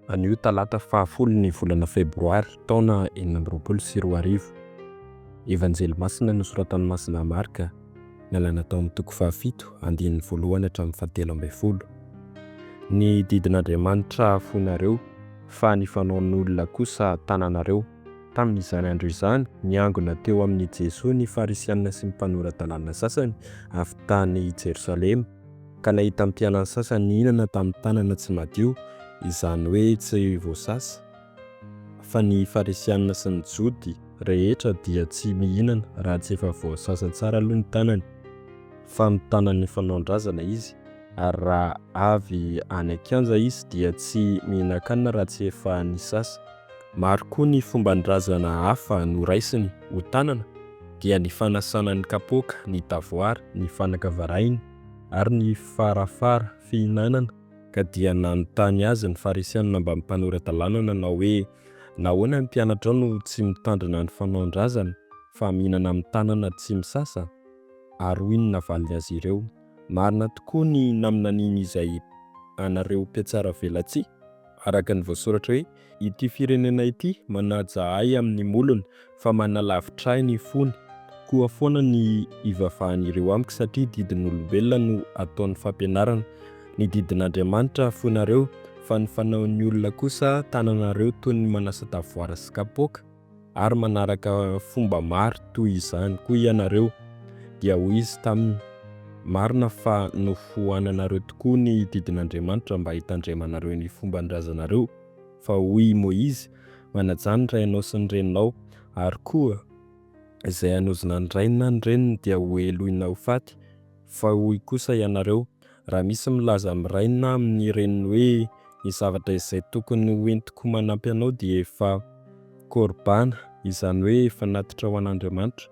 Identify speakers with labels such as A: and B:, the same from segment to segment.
A: Anio talata fahafolo ny volana febroary taona enina amby roapolo sy roa arivo, Evanjely masina nosoratan'i Masina Marka, nalaina tao amin'ny toko fahafito, andininy voalohany hatramin'ny fahatelo ambin'ny folo. Ny didin'Andriamanitra foinareo, fa ny fanaon'olona kosa tananareo. Tamin'izany andro izany, niangona teo amin'i Jesoa ny Farisianina sy ny mpanora-dalàna sasany avy tany Jerosalema, ka nahita ny mpianany sasany nihinana tamin'ny tanana tsy madio, izany hoe tsy voasasa, fa ny Farisianina sy ny Jody rehetra dia tsy mihinana raha tsy efa voasasa tsara aloha ny tanany, fa mitana ny fanaon-drazana izy, ary raha avy any an-kianja izy dia tsy mihinan-kanina raha tsy efa nisasa. Maro koa ny fomban-drazana hafa noraisiny ho tanana dia ny fanasana ny kapoaka, ny tavoara, ny fanaka varahina ary ny farafara fihinanana ka dia nanontany azy ny Farisianina mba mpanora-dalàna nanao hoe, Nahoana ny mpianatrao no tsy mitandrina ny fanaon-drazana fa mihinana amin'ny tanana tsy misasa? Ary hoy ny navaliny azy ireo, Marina tokoa ny naminanian'izay anareo mpiatsaravelatsihy araka ny voasoratra hoe, Ity firenena ity manaja ahy amin'ny molony, fa manalavitra ahy ny fony. Koa foana ny ivavahan'ireo amiko, satria didin'olombelona no ataony fampianarana. Ny didin'Andriamanitra afoinareo, fa ny fanaon'ny olona kosa tananareo toy ny manasa-davoara sy kapoaka. ary manaraka fomba maro toy izany koa ianareo. Dia hoy izy taminy, Marina fa nofoananareo tokoa ny didin'Andriamanitra mba hitandremanareo ny fomban-drazanareo, fa hoy i Moizy, Manajà ny rainao sy ny reninao, ary koa, Izay hanozona ny rainy na ny reniny dia hoheloina ho faty, fa hoy kosa ianareo, Raha misy milaza amin'ny rainy na amin'ny reniny hoe ny zavatra izay tokony ho entiko manampy anao dia efa Qorbana, izany hoe efa natitra ho an'Andriamanitra,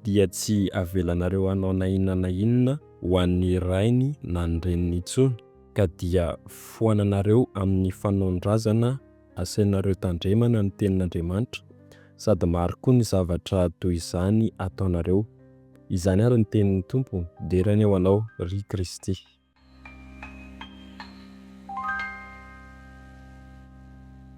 A: dia tsy avelanareo hanao na inona na inona ho an'ny rainy na ny reniny intsony, ka dia foananareo amin'ny fanaon-drazana asainareo tandremana ny tenin'Andriamanitra, sady maro koa ny zavatra toy izany ataonareo, Izany ary ny tenin'ny Tompo, Dera anie ho anao, ry Kristy.